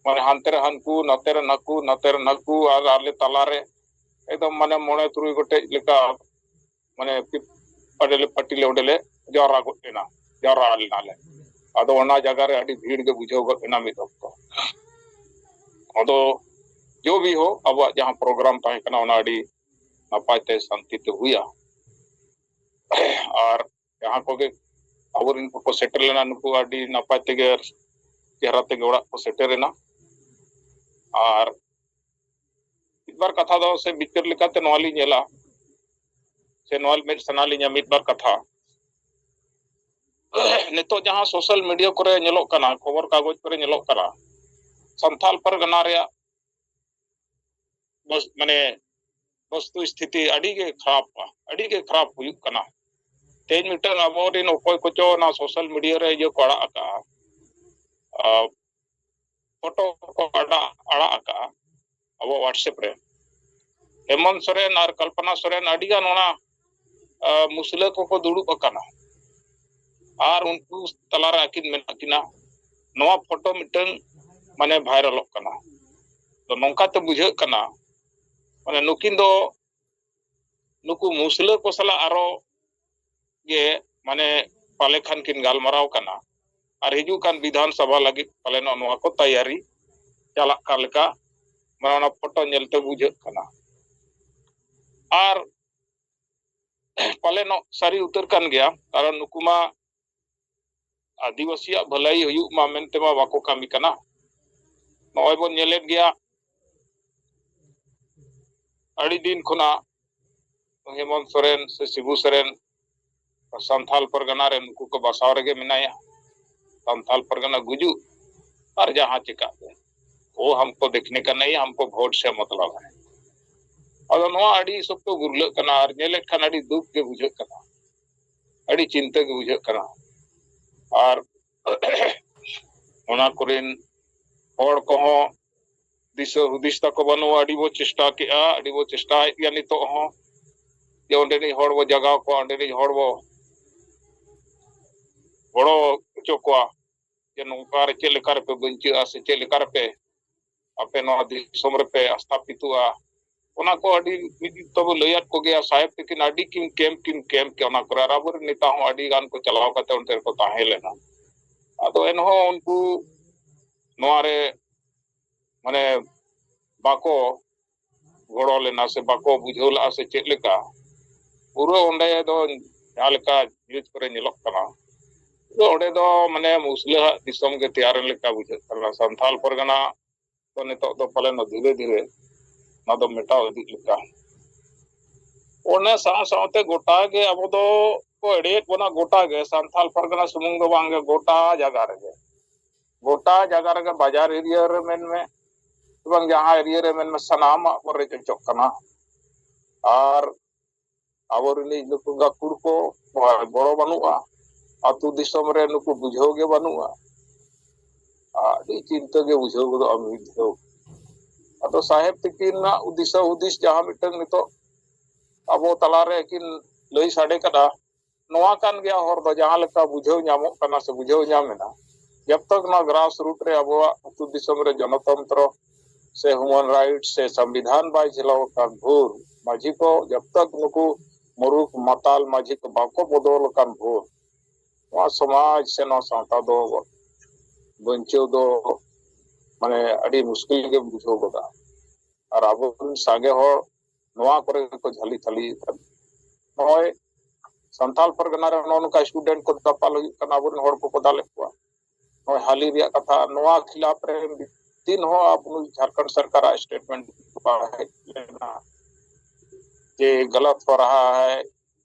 ᱢᱟᱱᱮ ᱦᱟᱱᱛᱮ ᱨᱮ ᱦᱟᱱᱠᱩ ᱱᱚᱛᱮ ᱨᱮ ᱱᱟᱠᱩ ᱱᱚᱛᱮ ᱨᱮ ᱱᱟᱠᱩ ᱟᱨ ᱟᱞᱮ ᱛᱟᱞᱟᱨᱮ ᱮᱠᱫᱚᱢ ᱢᱟᱱᱮ ᱢᱚᱬᱮ ᱛᱩᱨᱩᱭ ᱜᱚᱴᱮᱡ ᱞᱮᱠᱟ ᱢᱟᱱᱮ ᱚᱸᱰᱮ ᱞᱮ ᱯᱟᱴᱤ ᱞᱮ ᱚᱸᱰᱮ ᱞᱮ ᱡᱟᱣᱨᱟ ᱜᱚᱫ ᱞᱮᱱᱟ ᱡᱟᱣᱨᱟ ᱞᱮᱱᱟ ᱞᱮ ᱟᱫᱚ ᱚᱱᱟ ᱡᱟᱭᱜᱟ ᱨᱮ ᱟᱹᱰᱤ ᱵᱷᱤᱲ ᱜᱮ ᱵᱩᱡᱷᱟᱹᱣ ᱜᱚᱫ ᱮᱱᱟ ᱢᱤᱫ ᱚᱠᱛᱚ ᱟᱫᱚ ᱡᱚ ᱵᱤ ᱦᱚᱸ ᱟᱵᱚᱣᱟᱜ ᱡᱟᱦᱟᱸ ᱯᱨᱳᱜᱨᱟᱢ ᱛᱟᱦᱮᱸ ᱠᱟᱱᱟ ᱚᱱᱟ ᱟᱹᱰᱤ ᱱᱟᱯᱟᱭ ᱛᱮ ᱥᱟᱱᱛᱤ ᱛᱮ ᱦᱩᱭᱟ ᱟᱨ ᱡᱟᱦᱟᱸ ᱠᱚᱜᱮ ᱟᱵᱚᱨᱮᱱ ᱠᱚᱠᱚ ᱥᱮᱴᱮᱨ ᱞᱮᱱᱟ ᱱᱩᱠᱩ ᱟᱹᱰᱤ ᱱᱟᱯᱟᱭ ᱛᱮᱜᱮ ᱪᱮᱦᱨᱟ ᱛᱮᱜᱮ ᱚᱲᱟᱜ ᱠᱚ ᱥᱮᱴᱮᱨᱮᱱᱟ ᱟᱨ ᱢᱤᱫᱵᱟᱨ ᱠᱟᱛᱷᱟ ᱫᱚ ᱥᱮ ᱵᱤᱪᱟᱹᱨ ᱞᱮᱠᱟᱛᱮ ᱱᱚᱣᱟ ᱞᱤᱧ ᱧᱮᱞᱟ ᱥᱮ ᱱᱚᱣᱟ ᱢᱮᱫ ᱥᱟᱱᱟ ᱞᱤᱧᱟ ᱢᱤᱫᱵᱟᱨ ᱠᱟᱛᱷᱟ ᱱᱤᱛᱚᱜ ᱡᱟᱦᱟᱸ ᱥᱳᱥᱟᱞ ᱢᱤᱰᱤᱭᱟ ᱠᱚᱨᱮ ᱧᱮᱞᱚᱜ ᱠᱟᱱᱟ ᱠᱷᱚᱵᱚᱨ ᱠᱟᱜᱚᱡᱽ ᱠᱚᱨᱮ ᱧᱮᱞᱚᱜ ᱠᱟᱱᱟ ᱥᱟᱱᱛᱟᱞ ᱯᱟᱨᱜᱟᱱᱟ ᱨᱮᱭᱟᱜ ᱢᱟᱱᱮ ᱵᱚᱥᱛᱩ ᱥᱛᱷᱤᱛᱤ ᱟᱹᱰᱤ ᱜᱮ ᱠᱷᱟᱨᱟᱯᱟ ᱟᱹᱰᱤ ᱜᱮ ᱠᱷᱟᱨᱟᱯ ᱦᱩᱭᱩᱜ ᱠᱟᱱᱟ ᱛᱮᱦᱮᱧ ᱢᱤᱫᱴᱟᱝ ᱟᱵᱚᱨᱮᱱ ᱚᱠᱚᱭ ᱠᱚᱪᱚ ᱚᱱᱟ ᱥᱳᱥᱟᱞ ᱢᱤᱰᱤᱭᱟ ᱨᱮ ᱤᱭᱟᱹ ᱠᱚ ᱟᱲᱟᱜ ᱟᱠᱟᱜᱼᱟ ᱯᱷᱳᱴᱳ ᱠᱚ ᱟᱲᱟᱜ ᱟᱲᱟᱜ ᱟᱠᱟᱜᱼᱟ ᱟᱵᱚ ᱦᱳᱣᱟᱴᱥᱮᱯ ᱨᱮ ᱦᱮᱢᱚᱱ ᱥᱚᱨᱮᱱ ᱟᱨ ᱠᱚᱞᱯᱚᱱᱟ ᱥᱚᱨᱮᱱ ᱟᱹᱰᱤᱜᱟᱱ ᱚᱱᱟ ᱢᱩᱥᱞᱟᱹ ᱠᱚᱠᱚ ᱫᱩᱲᱩᱵ ᱟᱠᱟᱱᱟ ᱟᱨ ᱩᱱᱠᱩ ᱛᱟᱞᱟᱨᱮ ᱟᱹᱠᱤᱱ ᱢᱮᱱᱟᱜ ᱠᱤᱱᱟ ᱱᱚᱣᱟ ᱯᱷᱳᱴᱳ ᱢᱤᱫᱴᱟᱝ ᱢᱟᱱᱮ ᱵᱷᱟᱭᱨᱟᱞᱚᱜ ᱠᱟᱱᱟ ᱛᱚ ᱱᱚᱝᱠᱟᱛᱮ ᱵᱩᱡᱷᱟᱹᱜ ᱠᱟᱱᱟ ᱢᱟᱱᱮ ᱱᱩᱠᱤᱱ ᱫᱚ ᱱᱩᱠᱩ ᱢᱩᱥᱞᱟᱹ ᱠᱚ ᱥᱟᱞᱟᱜ ᱟᱨᱚ ᱜᱮ ᱢᱟᱱᱮ ᱯᱟᱞᱮ ᱠᱷᱟᱱ ᱠᱤᱱ ᱜᱟᱞᱢᱟᱨᱟᱣ ᱠᱟᱱᱟ ᱟᱨ ᱦᱤᱡᱩᱜ ᱠᱟᱱ ᱵᱤᱫᱷᱟᱱ ᱥᱚᱵᱷᱟ ᱞᱟᱹᱜᱤᱫ ᱯᱟᱞᱮᱱᱚᱜ ᱱᱚᱣᱟ ᱠᱚ ᱛᱟᱭᱟᱨᱤ ᱪᱟᱞᱟᱜ ᱠᱟᱱ ᱞᱮᱠᱟ ᱢᱟᱱᱮ ᱚᱱᱟ ᱯᱷᱳᱴᱳ ᱧᱮᱞᱛᱮ ᱵᱩᱡᱷᱟᱹᱜ ᱠᱟᱱᱟ ᱟᱨ ᱯᱟᱞᱮᱱᱚᱜ ᱥᱟᱹᱨᱤ ᱩᱛᱟᱹᱨ ᱠᱟᱱ ᱜᱮᱭᱟ ᱠᱟᱨᱚᱱ ᱱᱩᱠᱩ ᱢᱟ ᱟᱹᱫᱤᱵᱟᱹᱥᱤᱭᱟᱜ ᱵᱷᱟᱹᱞᱟᱹᱭ ᱦᱩᱭᱩᱜ ᱢᱟ ᱢᱮᱱᱛᱮ ᱢᱟ ᱵᱟᱠᱚ ᱠᱟᱹᱢᱤ ᱠᱟᱱᱟ ᱱᱚᱜᱼᱚᱭ ᱵᱚᱱ ᱧᱮᱞᱮᱫ ᱜᱮᱭᱟ ᱟᱹᱰᱤ ᱫᱤᱱ ᱠᱷᱚᱱᱟᱜ ᱦᱮᱢᱚᱱᱛ ᱥᱚᱨᱮᱱ ᱥᱮ ᱥᱤᱵᱩ ᱥᱚᱨᱮᱱ ᱥᱟᱱᱛᱷᱟᱞ ᱯᱟᱨᱜᱟᱱᱟ ᱨᱮ ᱱᱩᱠᱩ ᱠᱚ ᱵᱟᱥᱟᱣ ᱨᱮᱜᱮ ᱢᱮᱱᱟᱭᱟ ᱥᱟᱱᱛᱷᱟᱞ ᱯᱟᱨᱜᱟᱱᱟ ᱜᱩᱡᱩᱜ ᱟᱨ ᱡᱟᱦᱟᱸ ᱪᱤᱠᱟᱜ ᱜᱮ ᱳ ᱦᱟᱢᱠᱚ ᱫᱮᱠᱷᱱᱮ ᱠᱟ ᱱᱟᱹᱭ ᱦᱟᱢᱠᱚ ᱵᱷᱳᱴ ᱥᱮ ᱢᱚᱛᱞᱚᱵ ᱦᱮ ᱟᱫᱚ ᱱᱚᱣᱟ ᱟᱹᱰᱤ ᱥᱚᱠᱛᱚ ᱜᱩᱨᱞᱟᱹᱜ ᱠᱟᱱᱟ ᱟᱨ ᱧᱮᱞᱮᱫ ᱠᱷᱟᱱ ᱟᱹᱰᱤ ᱫᱩᱠ ᱜᱮ ᱵᱩᱡᱷᱟᱹᱜ ᱠᱟᱱᱟ ᱟᱹᱰᱤ ᱪᱤᱱᱛᱟᱹ ᱜᱮ ᱵᱩᱡᱷᱟᱹᱜ ᱠᱟᱱᱟ ᱟᱨ ᱚᱱᱟ ᱠᱚᱨᱮᱱ ᱦᱚᱲ ᱠᱚᱦᱚᱸ ᱫᱤᱥᱟᱹ ᱦᱩᱫᱤᱥ ᱛᱟᱠᱚ ᱵᱟᱹᱱᱩᱜᱼᱟ ᱟᱹᱰᱤ ᱵᱚ ᱪᱮᱥᱴᱟ ᱠᱮᱜᱼᱟ ᱟᱹᱰᱤ ᱵᱚ ᱪᱮᱥᱴᱟᱭᱮᱫ ᱜᱮᱭᱟ ᱱᱤᱛᱚᱜ ᱦᱚᱸ ᱡᱮ ᱚᱸᱰᱮᱱᱤᱡ ᱦᱚᱲ ᱵᱚ ᱡᱟᱜᱟᱣ ᱠᱚᱣᱟ ᱚᱸᱰᱮᱱᱤᱡ ᱦᱚᱲ ᱵᱚ ᱜᱚᱲᱚ ᱦᱚᱪᱚ ᱠᱚᱣᱟ ᱡᱮ ᱱᱚᱝᱠᱟ ᱨᱮ ᱪᱮᱫ ᱞᱮᱠᱟ ᱨᱮᱯᱮ ᱵᱟᱧᱪᱟᱹᱜᱼᱟ ᱥᱮ ᱪᱮᱫ ᱞᱮᱠᱟ ᱨᱮᱯᱮ ᱟᱯᱮ ᱱᱚᱣᱟ ᱫᱤᱥᱚᱢ ᱨᱮᱯᱮ ᱟᱥᱛᱟᱯᱤᱛᱚᱜᱼᱟ ᱚᱱᱟ ᱠᱚ ᱟᱹᱰᱤ ᱢᱤᱫ ᱛᱚᱵᱚ ᱞᱟᱹᱭᱟᱫ ᱠᱚᱜᱮᱭᱟ ᱥᱟᱦᱮᱵ ᱛᱤᱠᱤᱱ ᱟᱹᱰᱤ ᱠᱤᱱ ᱠᱮᱢᱯ ᱠᱤᱱ ᱠᱮᱢᱯ ᱠᱮ ᱚᱱᱟ ᱠᱚᱨᱮ ᱟᱨ ᱟᱵᱚᱨᱮᱱ ᱱᱮᱛᱟ ᱦᱚᱸ ᱟᱹᱰᱤ ᱜᱟᱱ ᱠᱚ ᱪᱟᱞᱟᱣ ᱠᱟᱛᱮ ᱚᱱᱛᱮ ᱨᱮᱠᱚ ᱛᱟᱦᱮᱸ ᱞᱮᱱᱟ ᱟᱫᱚ ᱮᱱᱦᱚᱸ ᱩᱱᱠᱩ ᱱᱚᱣᱟ ᱨᱮ ᱢᱟᱱᱮ ᱵᱟᱠᱚ ᱜᱚᱲᱚ ᱞᱮᱱᱟ ᱥᱮ ᱵᱟᱠᱚ ᱵᱩᱡᱷᱟᱹᱣ ᱞᱮᱫᱟ ᱥᱮ ᱪᱮᱫ ᱞᱮᱠᱟ ᱯᱩᱨᱟᱹ ᱚᱸᱰᱮ ᱫᱚ ᱡᱟᱦᱟᱸ ᱞᱮᱠᱟ ᱱᱤᱭᱩᱡᱽ ᱠᱚᱨᱮ ᱧᱮᱞᱚᱜ ᱠᱟᱱᱟ ᱯᱩᱨᱟᱹ ᱚᱸᱰᱮ ᱫᱚ ᱢᱟᱱᱮ ᱢᱩᱥᱞᱟᱹᱣᱟᱜ ᱫᱤᱥᱚᱢ ᱜᱮ ᱛᱮᱭᱟᱨᱮᱱ ᱞᱮᱠᱟ ᱵᱩᱡᱷᱟᱹᱜ ᱠᱟᱱᱟ ᱥᱟᱱᱛᱟᱞ ᱯᱟᱨᱜᱟᱱᱟ ᱫᱚ ᱱᱤᱛᱚᱜ ᱫᱚ ᱯᱟᱞᱮᱱ ᱫᱷᱤᱨᱮ ᱫᱷᱤᱨᱮ ᱚᱱᱟ ᱫᱚ ᱢᱮᱴᱟᱣ ᱤᱫᱤᱜ ᱞᱮᱠᱟ ᱚᱱᱟ ᱥᱟᱶ ᱥᱟᱶᱛᱮ ᱜᱚᱴᱟ ᱜᱮ ᱟᱵᱚ ᱫᱚ ᱠᱚ ᱮᱲᱮᱭᱮᱫ ᱵᱚᱱᱟ ᱜᱚᱴᱟ ᱜᱮ ᱥᱟᱱᱛᱟᱞ ᱯᱟᱨᱜᱟᱱᱟ ᱥᱩᱢᱩᱝ ᱫᱚ ᱵᱟᱝᱜᱮ ᱜᱚᱴᱟ ᱡᱟᱭᱜᱟ ᱨᱮᱜᱮ ᱜᱚᱴᱟ ᱡᱟᱭᱜᱟ ᱨᱮᱜᱮ ᱵᱟᱡᱟᱨ ᱮᱨᱤᱭᱟ ᱨᱮ ᱢᱮᱱᱢᱮ ᱮᱵᱚᱝ ᱡᱟᱦᱟᱸ ᱮᱨᱤᱭᱟ ᱨᱮ ᱢᱮᱱᱢᱮ ᱥᱟᱱᱟᱢᱟᱜ ᱵᱚᱱ ᱨᱮᱡ ᱦᱚᱪᱚᱜ ᱠᱟᱱᱟ ᱟᱨ ᱟᱵᱚ ᱨᱤᱱᱤᱡ ᱱᱩᱠᱩ ᱜᱟᱹᱠᱷᱩᱲ ᱠᱚ ᱜᱚᱲᱚ ᱵᱟᱹᱱᱩᱜᱼᱟ ᱟᱹᱛᱩ ᱫᱤᱥᱚᱢ ᱨᱮ ᱱᱩᱠᱩ ᱵᱩᱡᱷᱟᱹᱣ ᱜᱮ ᱵᱟᱹᱱᱩᱜᱼᱟ ᱟᱹᱰᱤ ᱪᱤᱱᱛᱟᱹ ᱜᱮ ᱵᱩᱡᱷᱟᱹᱣ ᱜᱚᱫᱚᱜᱼᱟ ᱢᱤᱫ ᱫᱷᱟᱣ ᱟᱫᱚ ᱥᱟᱦᱮᱵᱽ ᱛᱤᱠᱤᱱᱟᱜ ᱫᱤᱥᱟᱹ ᱦᱩᱫᱤᱥ ᱡᱟᱦᱟᱸ ᱢᱤᱫᱴᱟᱝ ᱱᱤᱛᱚᱜ ᱟᱵᱚ ᱛᱟᱞᱟᱨᱮ ᱠᱤᱱ ᱞᱟᱹᱭ ᱥᱟᱰᱮ ᱠᱟᱫᱟ ᱱᱚᱣᱟ ᱠᱟᱱ ᱜᱮᱭᱟ ᱦᱚᱨ ᱫᱚ ᱡᱟᱦᱟᱸ ᱞᱮᱠᱟ ᱵᱩᱡᱷᱟᱹᱣ ᱧᱟᱢᱚᱜ ᱠᱟᱱᱟ ᱥᱮ ᱵᱩᱡᱷᱟᱹᱣ ᱧᱟᱢ ᱮᱱᱟ ᱡᱟᱵ ᱛᱚᱠ ᱱᱚᱣᱟ ᱜᱨᱟᱥ ᱨᱩᱴ ᱨᱮ ᱟᱵᱚᱣᱟᱜ ᱟᱹᱛᱩ ᱫᱤᱥᱚᱢ ᱨᱮ ᱡᱚᱱᱚᱛᱚᱱᱛᱨᱚ ᱥᱮ ᱦᱤᱭᱩᱢᱟᱱ ᱨᱟᱭᱤᱴ ᱥᱮ ᱥᱚᱝᱵᱤᱫᱷᱟᱱ ᱵᱟᱭ ᱡᱷᱤᱞᱟᱣ ᱟᱠᱟᱱ ᱵᱷᱳᱨ ᱢᱟᱹᱡᱷᱤ ᱠᱚ ᱡᱟᱵ ᱛᱚᱠ ᱱᱩᱠᱩ ᱢᱩᱨᱩᱠ ᱢᱟᱛᱟᱞ ᱢᱟᱹᱡᱷᱤ ᱠᱚ ᱵᱟᱠᱚ ᱵᱚᱫᱚᱞ ᱟᱠᱟᱱ ᱵᱷᱳᱨ ᱱᱚᱣᱟ ᱥᱚᱢᱟᱡᱽ ᱥᱮ ᱱᱚᱣᱟ ᱥᱟᱶᱛᱟ ᱫᱚ ᱵᱟᱧᱪᱟᱣ ᱫᱚ ᱢᱟᱱᱮ ᱟᱹᱰᱤ ᱢᱩᱥᱠᱤᱞ ᱜᱮᱢ ᱵᱩᱡᱷᱟᱹᱣ ᱜᱚᱫᱟ ᱟᱨ ᱟᱵᱚ ᱨᱮᱱ ᱥᱟᱸᱜᱮ ᱦᱚᱲ ᱱᱚᱣᱟ ᱠᱚᱨᱮ ᱠᱚ ᱡᱷᱟᱹᱞᱤ ᱛᱷᱟᱹᱞᱤ ᱠᱟᱱᱟ ᱱᱚᱜᱼᱚᱭ ᱥᱟᱱᱛᱟᱞ ᱯᱟᱨᱜᱟᱱᱟ ᱨᱮ ᱱᱚᱜᱼᱚ ᱱᱚᱝᱠᱟ ᱥᱴᱩᱰᱮᱱᱴ ᱠᱚ ᱫᱟᱯᱟᱞ ᱦᱩᱭᱩᱜ ᱠᱟᱱᱟ ᱟᱵᱚᱨᱮᱱ ᱦᱚᱲ ᱠᱚᱠᱚ ᱫᱟᱞᱮᱫ ᱠᱚᱣᱟ ᱱᱚᱜᱼᱚᱭ ᱦᱟᱹᱞᱤ ᱨᱮᱭᱟᱜ ᱠᱟᱛᱷᱟ ᱱᱚᱣᱟ ᱠᱷᱤᱞᱟᱯ ᱨᱮ ᱛᱤᱱ ᱦᱚᱸ ᱟᱵᱚ ᱡᱷᱟᱲᱠᱷᱚᱸᱰ ᱥᱚᱨᱠᱟᱨᱟᱜ ᱥᱴᱮᱴᱢᱮᱱᱴ ᱵᱟᱝ ᱦᱮᱡ ᱞᱮᱱᱟ ᱡᱮ ᱜᱟᱞᱟᱛ ᱦᱚ ᱨᱟᱦᱟ ᱦᱟᱭ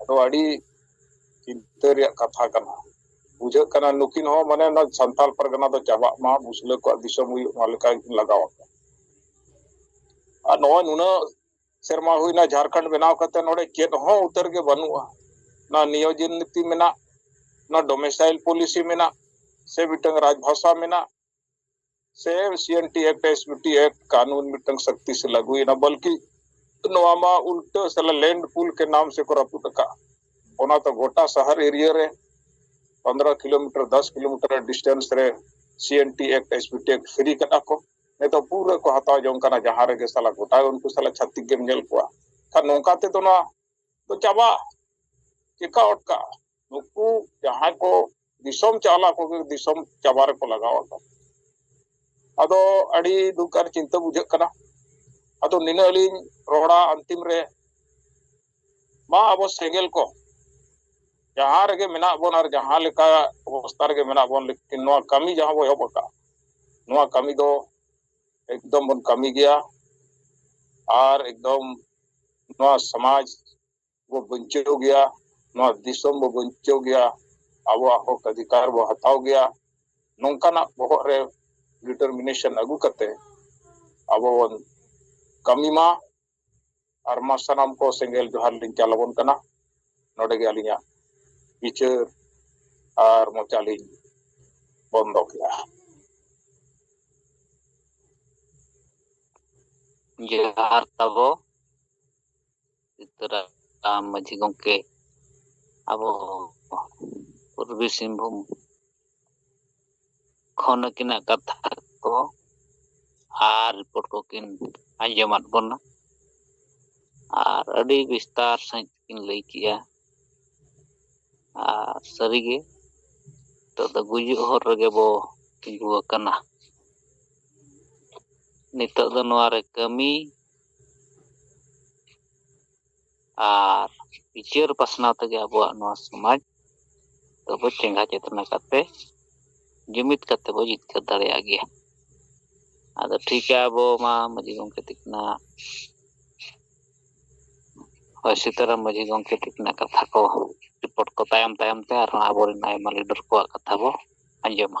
ᱟᱫᱚ ᱟᱹᱰᱤ ᱪᱤᱱᱛᱟᱹ ᱨᱮᱭᱟᱜ ᱠᱟᱛᱷᱟ ᱠᱟᱱᱟ ᱵᱩᱡᱷᱟᱹᱜ ᱠᱟᱱᱟ ᱱᱩᱠᱤᱱ ᱦᱚᱸ ᱢᱟᱱᱮ ᱚᱱᱟ ᱥᱟᱱᱛᱟᱲ ᱯᱟᱨᱜᱟᱱᱟ ᱫᱚ ᱪᱟᱵᱟᱜ ᱢᱟ ᱢᱩᱥᱞᱟᱹ ᱠᱚᱣᱟᱜ ᱫᱤᱥᱚᱢ ᱦᱩᱭᱩᱜ ᱢᱟ ᱞᱮᱠᱟ ᱜᱮᱠᱤᱱ ᱞᱟᱜᱟᱣ ᱟᱠᱟᱱᱟ ᱟᱨ ᱱᱚᱜᱼᱚᱭ ᱱᱩᱱᱟᱹᱜ ᱥᱮᱨᱢᱟ ᱦᱩᱭᱱᱟ ᱡᱷᱟᱲᱠᱷᱚᱸᱰ ᱵᱮᱱᱟᱣ ᱠᱟᱛᱮ ᱱᱚᱰᱮ ᱪᱮᱫ ᱦᱚᱸ ᱩᱛᱟᱹᱨ ᱜᱮ ᱵᱟᱹᱱᱩᱜᱼᱟ ᱚᱱᱟ ᱱᱤᱭᱳᱡᱤᱱ ᱱᱤᱛᱤ ᱢᱮᱱᱟᱜ ᱚᱱᱟ ᱰᱚᱢᱮᱥᱟᱭᱤᱞ ᱯᱚᱞᱤᱥᱤ ᱢᱮᱱᱟᱜ ᱥᱮ ᱢᱤᱫᱴᱟᱝ ᱨᱟᱡᱽ ᱵᱷᱟᱥᱟ ᱢᱮᱱᱟᱜ ᱥᱮ M C N T act S B T act ᱠᱟᱹᱱᱩᱱ ᱢᱤᱫᱴᱟᱝ ᱥᱚᱠᱛᱤ ᱥᱮ ᱞᱟᱹᱜᱩᱭᱮᱱᱟ ᱵᱚᱞᱠᱤ ᱱᱚᱣᱟ ᱢᱟ ᱩᱞᱴᱟᱹ ᱥᱟᱞᱟ ᱞᱮᱱᱰ ᱯᱩᱞ ᱠᱮ ᱱᱟᱢ ᱥᱮ ᱠᱚ ᱨᱟᱹᱯᱩᱫ ᱟᱠᱟᱫ ᱚᱱᱟ ᱛᱚ ᱜᱚᱴᱟ ᱥᱟᱦᱟᱨ ᱮᱨᱤᱭᱟ ᱨᱮ ᱯᱚᱱᱫᱨᱚ ᱠᱤᱞᱳᱢᱤᱴᱟᱨ ᱫᱚᱥ ᱠᱤᱞᱳᱢᱤᱴᱟᱨ ᱰᱤᱥᱴᱮᱱᱥ ᱨᱮ C N T act S B T act free ᱠᱟᱫᱟ ᱠᱚ ᱱᱤᱛᱚᱜ ᱯᱩᱨᱟᱹ ᱠᱚ ᱦᱟᱛᱟᱣ ᱡᱚᱝ ᱠᱟᱱᱟ ᱡᱟᱦᱟᱸ ᱨᱮᱜᱮ ᱥᱟᱞᱟ ᱜᱚᱴᱟ ᱩᱱᱠᱩ ᱥᱟᱞᱟ ᱪᱷᱟᱹᱛᱤᱠ ᱜᱮᱢ ᱧᱮᱞ ᱠᱚᱣᱟ ᱠᱷᱟᱱ ᱱᱚᱝᱠᱟ ᱛᱮᱫᱚ ᱱᱚᱣᱟ ᱫᱚ ᱪᱟᱵᱟᱜᱼᱟ ᱪᱮᱠᱟ ᱚᱴᱠᱟᱜᱼᱟ ᱱᱩᱠᱩ ᱡᱟᱦᱟᱸᱭ ᱠᱚ ᱫᱤᱥᱚᱢ ᱪᱟᱞᱟᱜ ᱠᱚᱜᱮ ᱫᱤᱥᱚᱢ ᱪᱟᱵᱟ ᱨᱮᱠᱚ ᱞᱟᱜᱟᱣ ᱟᱠᱟᱱ ᱟᱫᱚ ᱟᱹᱰᱤ ᱫᱩᱠ ᱟᱨ ᱪᱤᱱᱛᱟᱹ ᱵᱩᱡᱷᱟᱹᱜ ᱠᱟᱱᱟ ᱟᱫᱚ ᱱᱤᱱᱟᱹᱜ ᱞᱤᱧ ᱨᱚᱲᱟ ᱟᱱᱛᱤᱢ ᱨᱮ ᱢᱟ ᱟᱵᱚ ᱥᱮᱸᱜᱮᱞ ᱠᱚ ᱡᱟᱦᱟᱸ ᱨᱮᱜᱮ ᱢᱮᱱᱟᱜ ᱵᱚᱱ ᱟᱨ ᱡᱟᱦᱟᱸ ᱞᱮᱠᱟ ᱚᱵᱚᱥᱛᱟ ᱨᱮᱜᱮ ᱢᱮᱱᱟᱜ ᱵᱚᱱ ᱞᱮᱠᱤᱱ ᱱᱚᱣᱟ ᱠᱟᱹᱢᱤ ᱡᱟᱦᱟᱸ ᱵᱚ ᱮᱦᱚᱵ ᱟᱠᱟᱫ ᱱᱚᱣᱟ ᱠᱟᱹᱢᱤ ᱫᱚ ᱮᱠᱫᱚᱢ ᱵᱚᱱ ᱠᱟᱹᱢᱤ ᱜᱮᱭᱟ ᱟᱨ ᱮᱠᱫᱚᱢ ᱱᱚᱣᱟ ᱥᱚᱢᱟᱡᱽ ᱵᱚ ᱵᱟᱧᱪᱟᱣ ᱜᱮᱭᱟ ᱱᱚᱣᱟ ᱫᱤᱥᱚᱢ ᱵᱚ ᱵᱟᱧᱪᱟᱣ ᱜᱮᱭᱟ ᱟᱵᱚᱣᱟᱜ ᱦᱚᱠ ᱚᱫᱷᱤᱠᱟᱨ ᱵᱚ ᱦᱟᱛᱟᱣ ᱜᱮᱭᱟ ᱱᱚᱝᱠᱟᱱᱟᱜ ᱵᱚᱦᱚᱜ ᱨᱮ ᱰᱤᱴᱟᱨᱢᱤᱱᱮᱥᱚᱱ ᱟᱹᱜᱩ ᱠᱟᱛᱮ ᱟᱵᱚ ᱵᱚᱱ ᱠᱟᱹᱢᱤ ᱢᱟ ᱟᱨ ᱢᱟ ᱥᱟᱱᱟᱢ ᱠᱚ ᱥᱮᱸᱜᱮᱞ ᱡᱚᱦᱟᱨ ᱞᱤᱧ ᱪᱟᱞ ᱟᱵᱚᱱ ᱠᱟᱱᱟ ᱱᱚᱰᱮ ᱜᱮ ᱟᱹᱞᱤᱧᱟᱜ ᱵᱤᱪᱟᱹᱨ ᱟᱨ ᱢᱚᱪᱟ ᱞᱤᱧ ᱵᱚᱱᱫᱚ ᱠᱮᱫᱼᱟ
ᱡᱚᱦᱟᱨ ᱛᱟᱵᱚ ᱛᱚᱨᱟ ᱟᱢ ᱢᱟᱺᱡᱷᱤ ᱜᱚᱢᱠᱮ ᱟᱵᱚ ᱯᱩᱨᱵᱤ ᱥᱤᱝᱵᱷᱩᱢ ᱠᱷᱚᱱ ᱟᱹᱠᱤᱱᱟᱜ ᱠᱟᱛᱷᱟ ᱠᱚ ᱟᱨ ᱨᱤᱯᱳᱨᱴ ᱠᱚᱠᱤᱱ ᱟᱸᱡᱚᱢᱟᱫ ᱵᱚᱱᱟ ᱟᱨ ᱟᱹᱰᱤ ᱵᱤᱥᱛᱟᱨ ᱥᱟᱺᱦᱤᱡ ᱠᱤᱱ ᱞᱟᱹᱭ ᱠᱮᱜᱼᱟ ᱟᱨ ᱥᱟᱹᱨᱤᱜᱮ ᱱᱤᱛᱚᱜ ᱫᱚ ᱜᱩᱡᱩᱜ ᱦᱚᱨ ᱨᱮᱜᱮ ᱵᱚ ᱛᱤᱸᱜᱩ ᱟᱠᱟᱱᱟ ᱱᱤᱛᱚᱜ ᱫᱚ ᱱᱚᱣᱟᱨᱮ ᱠᱟᱹᱢᱤ ᱟᱨ ᱵᱤᱪᱟᱹᱨ ᱯᱟᱥᱱᱟᱣ ᱛᱮᱜᱮ ᱟᱵᱚᱣᱟᱜ ᱱᱚᱣᱟ ᱥᱚᱢᱟᱡᱽ ᱫᱚᱵᱚ ᱪᱮᱸᱜᱷᱟ ᱪᱮᱛᱱᱟ ᱠᱟᱛᱮ ᱡᱩᱢᱤᱫ ᱠᱟᱛᱮ ᱵᱚ ᱡᱤᱛᱠᱟᱹᱨ ᱫᱟᱲᱮᱭᱟᱜ ᱜᱮᱭᱟ ᱟᱫᱚ ᱴᱷᱤᱠ ᱜᱮᱭᱟ ᱟᱵᱚ ᱢᱟ ᱢᱟᱹᱡᱷᱤ ᱜᱚᱝᱠᱮ ᱛᱤᱠᱤᱱᱟᱜ ᱦᱳᱭ ᱥᱤᱛᱟᱨᱟᱢ ᱢᱟᱹᱡᱷᱤ ᱜᱚᱝᱠᱮ ᱛᱤᱠᱤᱱᱟᱜ ᱠᱟᱛᱷᱟ ᱠᱚ ᱨᱤᱯᱳᱨᱴ ᱠᱚ ᱛᱟᱭᱚᱢ ᱛᱟᱭᱚᱢ ᱛᱮ ᱟᱨᱦᱚᱸ ᱟᱵᱚᱨᱮᱱ ᱟᱭᱢᱟ ᱞᱤᱰᱟᱨ ᱠᱚᱣᱟᱜ ᱠᱟᱛᱷᱟ ᱵᱚ ᱟᱸᱡᱚᱢᱟ